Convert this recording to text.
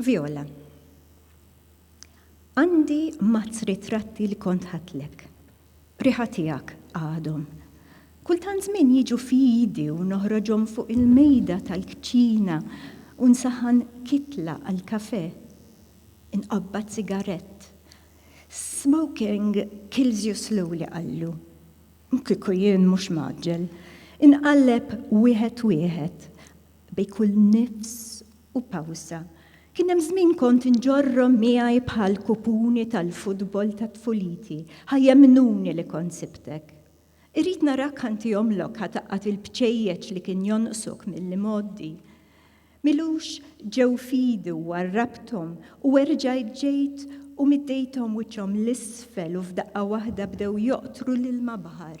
Viola, Għandi mazz ritratti li kont ħadtlek. B'riħa tiegħek għadhom. Kultant żmien jiġu f'idi u noħroġhom fuq il-mejda tal-kċina u nsaħħan kitla għall-kafè. Inqabbad sigarett. Smoking kills you slowly qallu. Kieku jien mhux mgħaġġel. Inqalleb wieħed wieħed bejn kull nifs U pawża. Kien hemm żmien kont inġorrhom miegħi bħal kupuni tal-futbol ta' tfuliti, ħa jemmnuni li kont sibtek. Irrid narak ħa nti omlok ħa taqqad il-bċejjeċ li kien jonqsok mill-imgħoddi. M'ilux ġew f'idi u għarrabthom u erġajt ġejt u middejthom wiċċhom 'l isfel u f'daqqa waħda bdew joqtru l-ilma baħar.